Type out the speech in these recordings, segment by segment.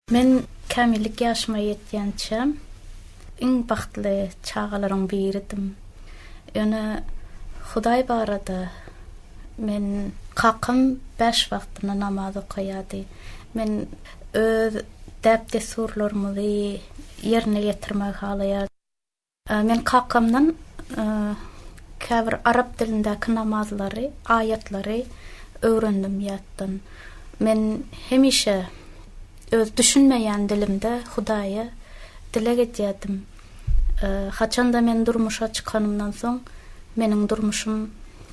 Men kämillik ýaşyma ýetýänçä iň bagtly çagalaryň biridim. Ýöne Hudaý barada Men Kakam bäş wagtyna namaz okaýardy. Men öz däp-dessurlarymyzy ýerine ýetirmegi halaýardym. Men kakamdan käbir arap dilindäki namazlary, aýatlary öwrendim ýatdan. Men hemişe öz düşünmeýän dilimde Hudaýa dileg edýärdim. Haçan-da men durmuşa çykanymdan soň, meniň durmuşym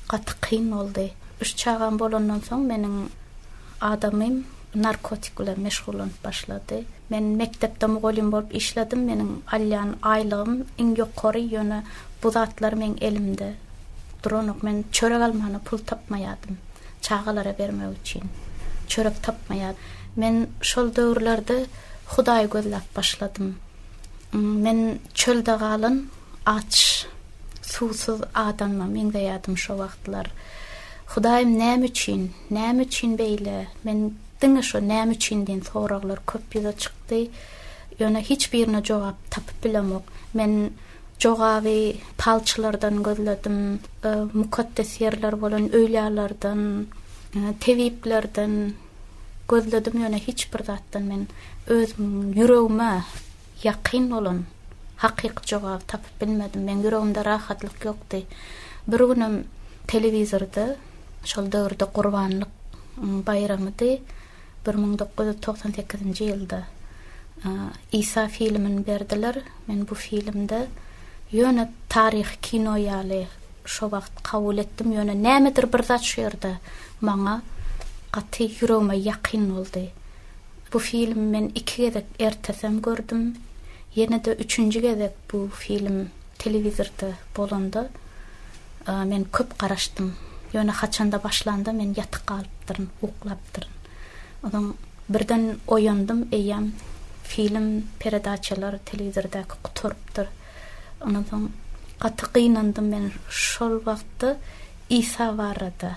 gaty kyn boldy. Üç çagam bolandan soň meniň. Adamym narkotik bilen meşgullanyp başlady. Men mekdepde mugallym bolup işledim, meniň alýan aýlygym iň ýokary, ýöne bu zatlar meň elimde duranok. Men çörek almana pul tapmaýardym, çagalara bermek üçin çörek tapmaýardym. Men şol döwürlerde Hudaýy gözläp başladym. Men çölde galan aç. Suwsuz adamma meňzeýärdim şo wagtlar. Hudaýym näme üçin, näme üçin beýle? Men diňe şo näme üçin diýen soraglar köp ýüze çykdy. Ýöne hiç birine jogap tapyp bilemok. Men jogaby palçylardan gözledim, mukaddes ýerler bolan öýlärlerden, tebiplerden gözledim ýöne hiç bir zatdan men özümiň ýüregime Ýakyn bolan, hakyky jogaby tapyp bilmedim. Meň ýüregimde rahatlyk ýokdy. Bir günem telewizorda, şol döwürde gurbanlyk baýramydy, bir müň dokuz ýüz togsan sekizinji ýylda Isa filmini berdiler. Men bu filmde ýöne taryhy kino ýaly şo wagt kabul etdim, ýöne nämedir bir zat şu ýerde maňa gaty ýüregime ýakyn boldy. Bu filmi men iki gezek ertesem gördüm. Ýene-de üçünji gezek bu film telewizorda bolanda men köp garaşdym. Ýöne haçanda başlanda men ýatyk galypdyryn, uklapdyryn. Onsoň birden oýandym, eýýäm film, peredaçalar telewizordäki gutarypdyr. Ondan soň gaty gynandym men şol wagtda Isa barada.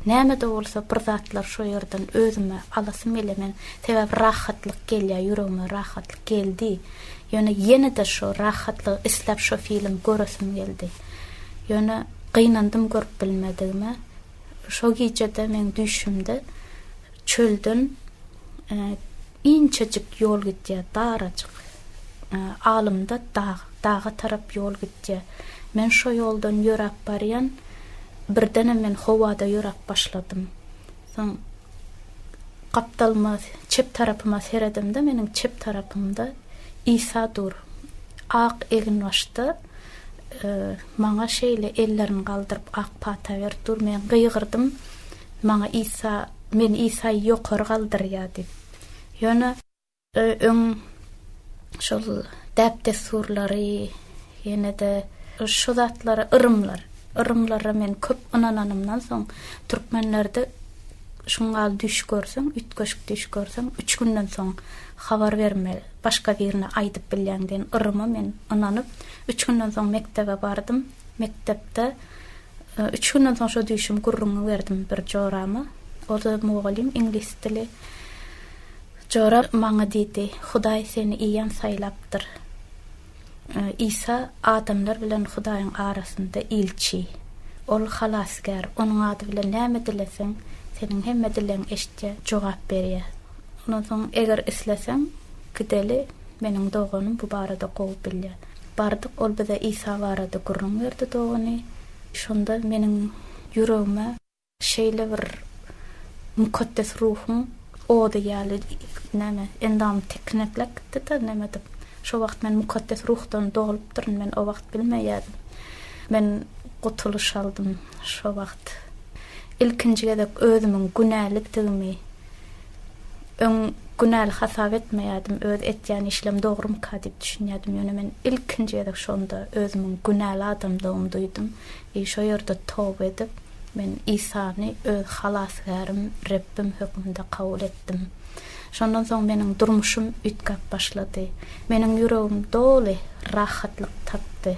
Näme-de bolsa bir zatlar şo ýerden özüme alasym gelýär. Men sebäbi rahatlyk gelýär, ýüregime rahatlyk geldi. Ýöne ýene-de şo rahatlygy isläp şo filmi göresim geldi. Ýöne gynandym görüp bilmedigime. Şo gije-de meň düýşümde Çölden inçejik ýol gidýär, darajyk. Alymda dag, daga tarap ýol gidýär. Men şo ýoldan ýöräp barýan, birdenem men howada ýöräp başladym. Soň gapdalyma, çep tarapyma seredemde, meniň çep tarapymda Isa dur. Ak eginbaşda maňa şeýle ellerini galdyryp ak pata berip dur. Men gygyrdym. Maňa Isa, men Isaýy ýokary galdyrýar diýip. Ýöne öň şol däp-dessurlary, ýene-de şu zatlara yrymlar, yrymlara men köp ynananymdan soň, türkmenlerde şuňňal düýş görseň, üýtgeşik düýş görseň, üç günden soň habar bermeli, başga birine aýdyp bilýäň diýen yryma men ynanyp, üç günden soň mekdebe bardym. Mekdepde. Üç günden soň şo düýşümi gürrüňini berdim bir jorama. O-da mugallym, iňlis dili. Jora maňa diýdi, Hudaý seni iýen saýlapdyr. Isa adamlar bilen Hudaýyň arasynda ilçi. Ol Halasgär. Onuň ady bilen näme dileseň, seniň hemme dilegiňi eşitýär, jogap berýär. Ondan soň, eger isleseň, gideli, meniň doganym bu barada gowy bilýär. Bardyk, ol bize Isa barada gürrüň berdi dogany. Şonda meniň ýüregime şeýle bir Mukaddes Ruhuň ody ýaly näme, endamym tirkineklep gitdi-de, nämedir. Şo wagt men Mukaddes Ruhdan dolupdyryn, men o wagt bilmeýärdim. Men gutulyş aldym şo wagt. Ilkinji gezek özümiň günälidigimi. Öň günäli hasap etmeýärdim, öz etýän işlem dogrumyka diýip düşünýärdim, ýöne men ilkinji gezek şonda özümiň günäli adamdygymy duýdum. I şo ýerde toba edip, men Isany öz Halasgärim, Rebbim hökmünde kabul etdim. Şondan soň meniň durmuşym üýtgäp başlady. Meniň ýüregim doly rahatlyk tapdy.